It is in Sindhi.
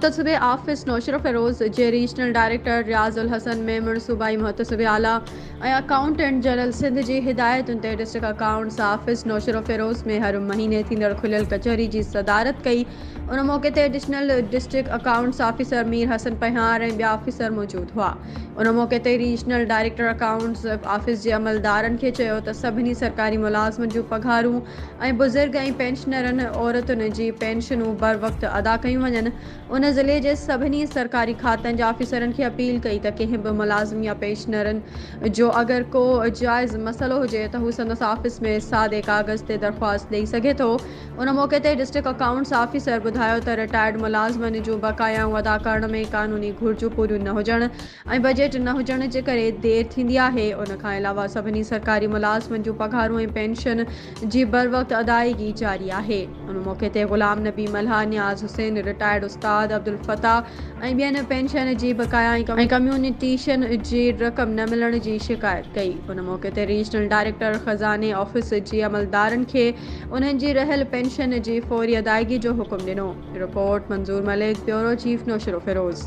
محتسبي آفيس نوشهروفيروز جي ريجنل ڊائريڪٽر رياض الحسن ميمڻ صوبائي محتسبي اعليٰ ۽ اڪائونٽنٽ جنرل سنڌ جي هدايتن تي ڊسٽرڪٽ اڪائونٽس آفيس نوشهروفيروز ۾ هر مهيني ٿيندڙ کليل ڪچهري جي صدارت ڪئي ان موقعي تي additional district accounts officer Mir Hassan Phahiar ۽ ٻيا آفيسر موجود هئا. ان موقعي تي ريجنل ڊائريڪٽر اڪائونٽس آفيس جي عملدارن کي چيو ته سڀني سرڪاري ملازمن جون پگهارون ۽ بزرگ ۽ پينشنرن عورتن جي پينشنون بروقت ادا ڪيون وڃن. ان ضلعي جي سڀني سرڪاري کاتن جي آفيسرن کي اپيل ڪئي ته ڪنهن به ملازم يا پينشنرن جو اگر ڪو جائز مسئلو هجي ته هو سندس آفيس ۾ سادي ڪاغذ تي درخواست ڏئي سگهي ٿو. ان موقعي تي ڊسٽرڪٽ اڪائونٽس آفيسر ٻڌايو ته رٽائرڊ ملازمن جون بقايائون ادا ڪرڻ ۾ قانوني گهرجون پوريون نه هجڻ ۽ بجيٽ نه هجڻ جي ڪري دير ٿيندي آهي، ان کان علاوه سڀني سرڪاري ملازمن جون پگهارون ۽ پينشن جي بروقت ادائيگي جاري آهي. ان موقعي تي غلام نبي ملهه، نياز حسين، رٽائرڊ استاد عبدالفتاح ۽ ٻين پينشن جي بقايا ۽ ڪميونيٽيشن جي رقم نه ملڻ جي شڪايت ڪئي، ان موقعي تي ريجنل ڊائريڪٽر خزاني آفيس جي عملدارن کي انهن جي رهيل پينشن جي فوري ادائيگي جو حڪم ڏنو، report Manzoor Malik, bureau chief Naushahro Feroze.